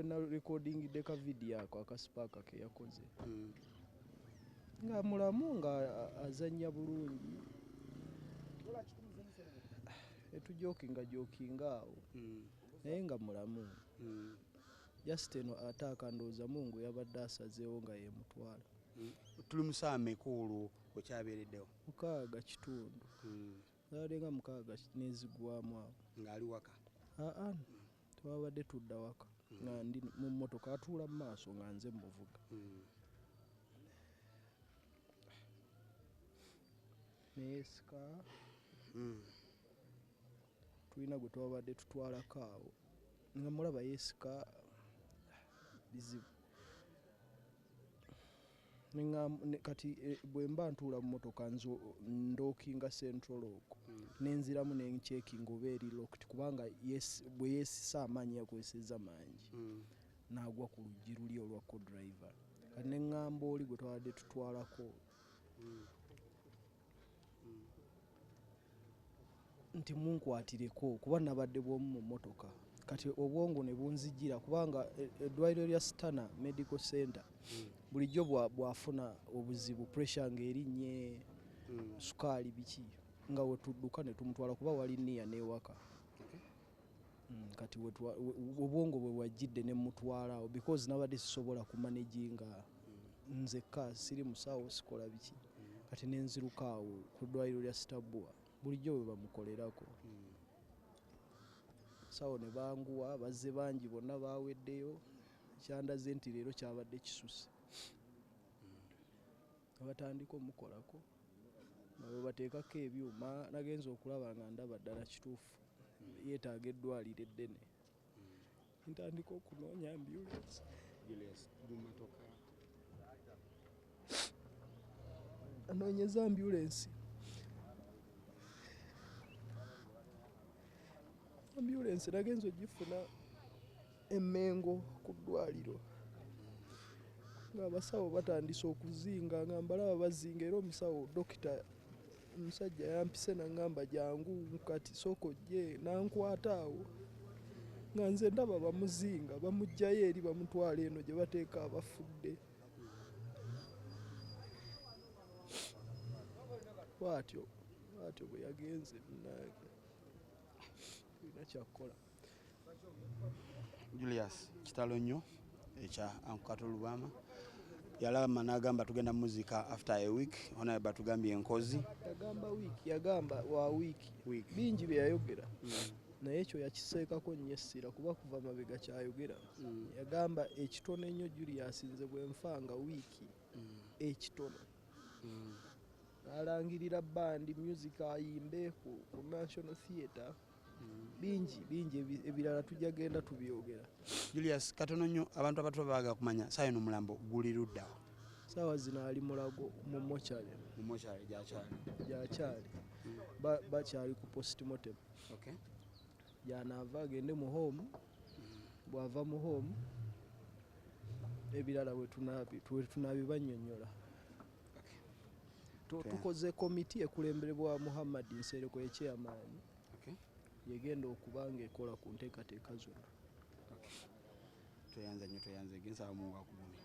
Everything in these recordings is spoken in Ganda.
wena recording deka video ako akasipaka ke yakoze mm. nga mulamu nga azanya bulungi etujokinga jokinga awo mm. naye nga mulamu mm. Just eno ataaka ndowooza mungu yabadde asazeewo nga yemutwala. Tuli musaa meka olwo okyabeereddewo? Mukaaga kitundu. Zabadde nga mukaaga nezigwamu awo. Nga ali waka? Aa twabadde tudda waka nga ndi mu mmotoka atuula mu maaso nga nze mmuvuga. Neesika. Tulina gwe twabadde tutwalako awo nga mulaba yeesika bizibu. Kati eh, bwe mba ntuula mu motoka ndookinga central okwo hmm. nenziramu nenkyekinga oba eri lokiti kubanga bwe yeesisa amaanyi yakozesezza mangi hmm. naagwa ku luggi luli olwa codriver kati neŋŋamba oli gwe twabadde tutwalako hmm. nti munkwatireko kuba nabadde bwomu mu motoka kati obwongo ne bunzijira kubanga e, eddwaliro lya stana medical center mm. bulijjo bwafuna obuzibu pressure ng'erinnye mm. sukaali biki nga wetudduka ne tumutwala kuba wali niya n'ewaka Mm, kati obwongo bwe wajjidde ne mutwala awo because nabadde sisobola kumanaginga nzekka siri musawo sikola biki kati nenziruka awo ku ddwaliro lya sitabua bulijjo bwe bamukolerako sawo ne banguwa bazze bangi bonna baweddeyo kyandaze nti leero kyabadde kisuse Nebatandika omukolako nga bwebateekako ebyuma nagenze okulaba nga ndaba ddala kituufu yetaaga eddwaliro eddene ntandika okunoonya ambulance anoonyeza ambulensi ambulensi nagenza ogifuna E Mengo ku ddwaaliro ng'abasawo batandise okuzinga nga mbalaba bazinga era omusawo dokita omusajja yampise nangamba jangu kati sooka ojje nankwata awo nga nze ndaba bamuzinga bamugjayo eri bamutwala eno gye bateeka abafudde bwatyo bwatyo bwe yagenze munange olina kyakukola Julius kitalo nnyo ekya ankukato lubama yalama nagamba tugenda muzika after a week onaye batugambye enkozi yagamba week yagamba wa week bingi byeyayogera mm. naye ekyo yakiseekako nnyo essira kuba kuva mabega kyayogera mm. yagamba ekitono ennyo julius nze bwenfa nga wiiki mm. ekitono mm. nalangirira bandi music ayimbe ku national theatre bingi bingi ebirala tujja genda tubyogera julius katono nnyo abantu abatu babaga kumanya saayo nomulambo guli luddawo saawa zino ali mulago mu mochari mu mochari gyakyali gyakyali bakyali ku post motem yanaava agende mu home bwava mu home ebirala wetunabibanyonyola tukoze komiti ekulemberebwa muhammad nsereko ekyeyamaani yegenda okuba nga ekola ku nteekateeka zonna tweyanza nyo tweyanza egensaa mungu akugumi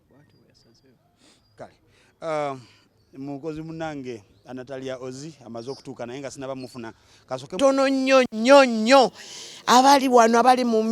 bwati weyasazeewo kale um, mukozi munange anatalia ozi amaze okutuuka naye nga sinaba mufuna tono nnyo nnyo nnyo abali wano abali mu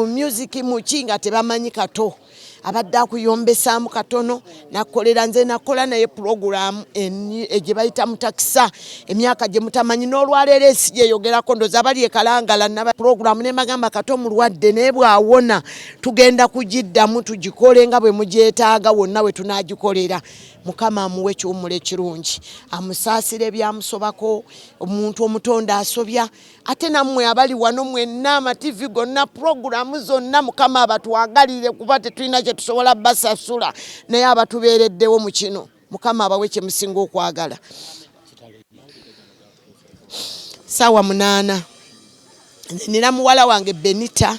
music muki nga tebamanyi kato abadde akuyombesaamu katono nakolera nze nakola naye pulogulaamu eh, gye bayita mutakisa emyaka gye mutamanyi n'olwaleero ensi gyeyogerako ndoza abali ekalangala naba pulogulaamu ne mbagamba kato mulwadde naye bwawona tugenda kugiddamu tugikole nga bwe mugyetaaga wonna we tunagikolera mukama amuwe ekiwumula ekirungi amusaasire ebyamusobako omuntu omutonde asobya ate nammwe abali wano mwenna amativi gonna puroguramu zonna mukama abatwagalire kuba tetulina kyetusobola basasula naye abatubeereddewo mu kino mukama abawe kyemusinga okwagala saawa munaana nina muwala wange benita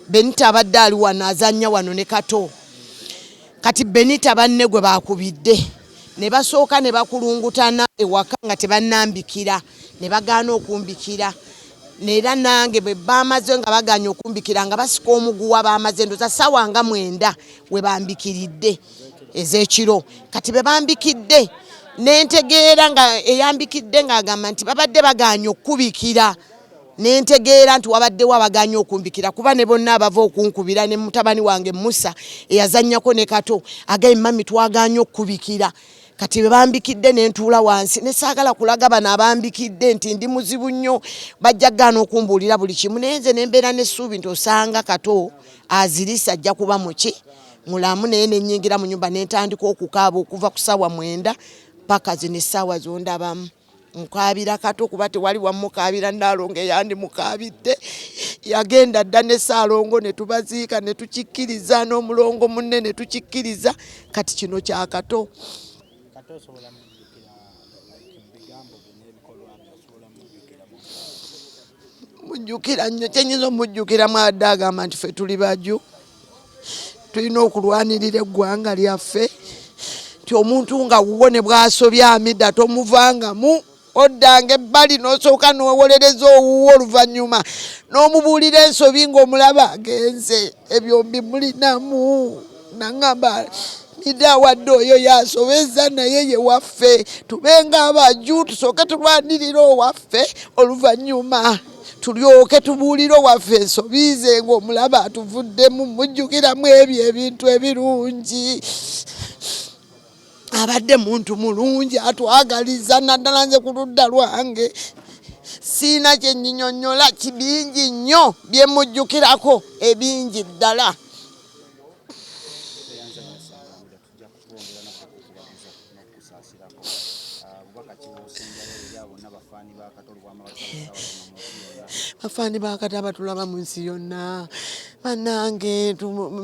benita abadde ali wano azanya wano ne kato kati benita banne gwe bakubidde ne basooka ne bakulungutana ewaka nga tebannambikira ne bagaana okumbikira era nange bwe bamaze nga baganye okumbikira nga basika omuguwa bamaze ndoza sawa nga mwenda we bambikiridde ez'ekiro kati be bambikidde nentegeera nga eyambikidde ng'agamba nti babadde bagaanye okukubikira nentegeera nti wabaddewo abagaanye okumbikira kuba ne bonna abava okunkubira ne mutabani wange musa eyazannyako ne kato agaye mami twagaanye okukubikira kati bebambikidde nentuula wansi nesaagala kulaga bano abambikidde nti ndi muzibu nnyo bajja gaana okumbuulira buli kimu naye nze nembeera n'essuubi nti osanga kato azirisa ajja kuba muki mulamu naye nenyingira mu nyumba nentandika okukaaba okuva ku saawa mwenda paka zino essaawa zondabamu nkaabira kati okuba tewali wamukaabira naalongo eyandi mukaabidde yagenda dda ne saalongo ne tubaziika ne tukikkiriza n'omulongo munne ne tukikkiriza kati kino kyakato mujjukira nnyo kyenyinza omujjukira mwadde agamba nti fe tuli baju tulina okulwanirira eggwanga lyaffe nti omuntu nga wuwo ne bwasobya amida tomuvangamu oddanga ebbali nosooka nowolereza owuwo oluvannyuma n'omubuulira ensobi ng'omulaba agenze ebyo mbimulinamu nangamba nide awadde oyo yasobeza naye ye waffe tubenga abaju tusooke tulwanirira owaffe oluvannyuma tulyoke tubuulire owaffe ensobi ze ng'omulaba atuvuddemu mujjukiramu ebyo ebintu ebirungi abadde muntu mulungi atwagaliza naddala nze ku ludda lwange siina kyenyinyonyola kibingi nnyo byemujjukirako ebingi ddala bafani bakata batulaba mu nsi yonna banange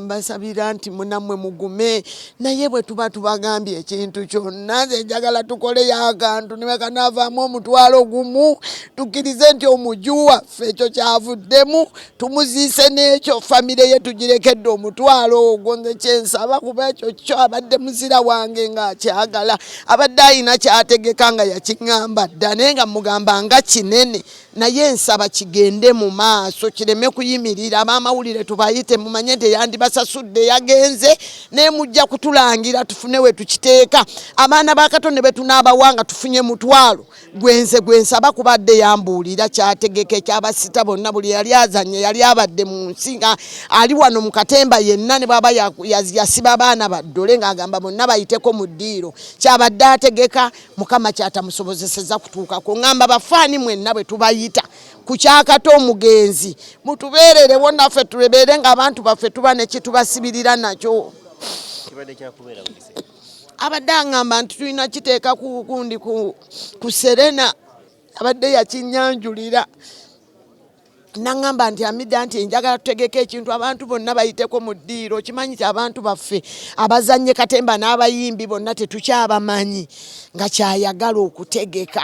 mbasabira nti munamwe mugume naye bwe tuba tubagambye ekintu kyonna nze njagala tukoleyo akantu newekanavaamu omutwalo gumu tukkirize nti omuju waffe ekyo kyavuddemu tumuziise n'ekyo famire ye tugirekedde omutwalo ogwo nze kyensaba kuba ekyo kyo abadde muzira wange ng'akyagala abadde alina kyategeka nga yakiŋŋamba dda naye nga mugamba nga kinene naye nsaba kigende mu maaso kireme kuyimirira abamawulire tubayite mumanye nti eyandibasasudde yagenze naye mujja kutulangira tufune we tukiteeka abaana ba kato ne betunaabawanga tufunye mutwalo gwenze gwensaba kubadde yambuulira kyategeke kyabasita bonna buli yali azanye yali abadde mu nsi nga ali wano mu katemba yenna ne bwaba yasiba abaana baddole ng'agamba bonna bayiteko mu ddiiro kyabadde ategeka mukama kyatamusobozeseza kutuukako ngamba bafaani mwenna bwe tubayita kukyakata omugenzi mutubeererewo naffe tulebeere ng'abantu baffe tuba nekitubasibirira nakyo abadde angamba nti tulina kiteeka ku gundi ku serena abadde yakinyanjulira nangamba nti amida nti njagala tutegeka ekintu abantu bonna bayiteko mu ddiiro okimanyi ti abantu baffe abazannye katemba n'abayimbi bonna tetukyabamanyi nga kyayagala okutegeka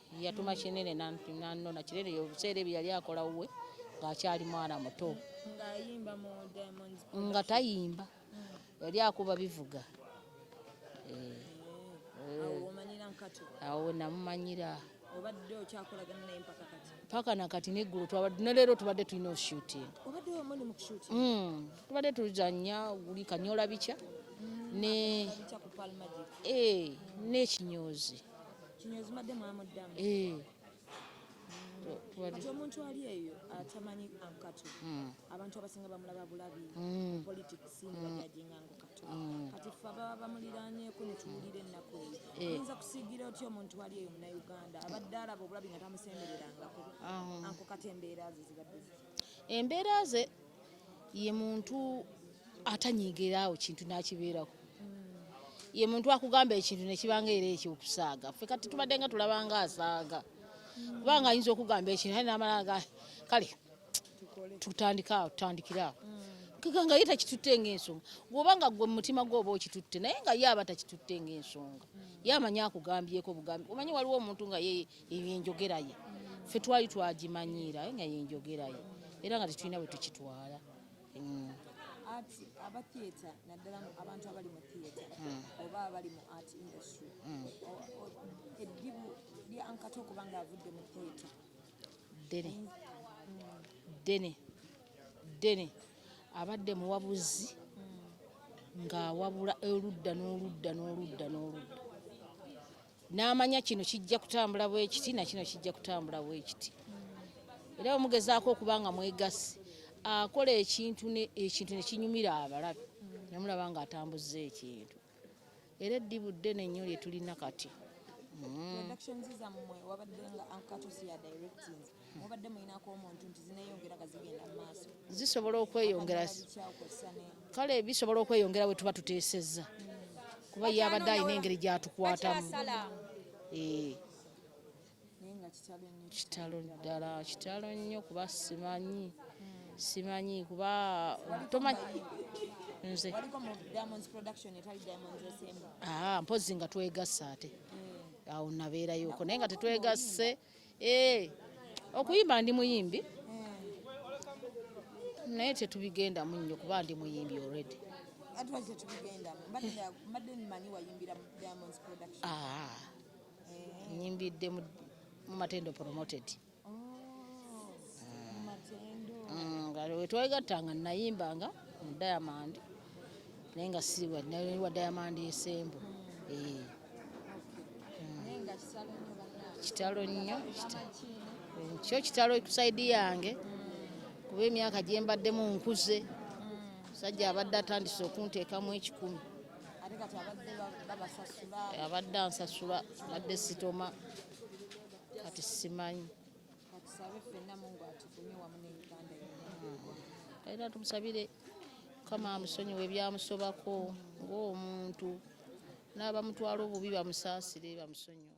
yatuma kinene nanona kinene yobuseera ebyo yali akola wuwe ng'akyali mwana muto nga tayimba hmm. yali akuba bivuga eh. Eh. awo namumanyira obadde okyakolagana naye mpaka kati mpaka nakati neggulu twabadde ne leero tubadde tulina oshooting obadde wamuli mu kushooting mm. tubadde tuzanya guli kanyola bica mm. ne eh, n'ekinyoozi kino ezimadde mwamuddamu eh. kati omuntu ali eyo atamanyi ankatu hmm. abantu abasinga bamulaba bulabi hmm. politics hmm. nebajajinga nkukatu kati fe ababa bamuliranyeko netuwulira ennaku eyo eh. oyinza kusigira otya omuntu ali eyo munauganda abadde alaba obulabi nga tamusembererangako ah. anko kati embeera ze zibadde embeera ze ye muntu atanyigira awo kintu nakibeerako ye muntu akugamba ekintu nekibanga era ekyokusaaga fe kati tubadde nga tulabanga asaaga kubanga ayinza okugamba ekintu aye namalaga kale tutandika awo tutandikire awo kika nga ye takitutte ngaensonga gwoba nga gwe mumutima gwe oba okitutte naye nga ye aba takitutte ngaensonga ye amanyi akugambyeko bugambi omanyi waliwo omuntu nga ye eyo enjogera ye ffe twali twagimanyiira nga yenjogera ye era nga tetulina bwe tukitwala mm. ati aba theatre naddala abantu abali mu theatre mm. oba abali mu art industry mm. eddibu lya ankata okuba nga avudde mu theatre ddene ddene ddene abadde muwabuzi ng'awabula oludda n'oludda n'oludda n'oludda n'amanya kino kijja kutambula bwekiti na kino kijja kutambula bwekiti era bwe mugezaako okuba nga mwegasi akola ekintu ekintu ne kinyumira abalabi ne mulaba ng'atambuzza ekintu era eddibu ddene nnyo lye tulina kati mm. mubadde mulinako omuntu nti zineyongera nga zigenda mu maaso zisobola okweyongera kale bisobola okweyongera bwe tuba tuteesezza kuba ye abadde alina engeri gyatukwatamu eh. kitalo ddala kitalo nnyo kuba simanyi hmm. simanyi kuba tomanyi nze ah, mpozi nga twegasa ate hmm. awo nabeerayoko naye nga tetwegasse Eh, okuyimba ndi muyimbi naye tetubigendamu nnyo kuba ndi muyimbi already ah, eh. nyimbidde mu matendo promoted oh, mm, nga wetwegatta nga nayimbanga mu diamond naye nga siwa wa diamond esembo mm. eh. kitalo nnyo kyo kitalo kusaidi yange kuba emyaka gye mbaddemu nkuze musajja abadde atandise okunteekamu ekikumi abadde ansasula badde sitoma kati simanyi era tumusabire kama amusonyiwe ebyamusobako ng'omuntu n'abamutwala obubi bamusaasire bamusonyiwe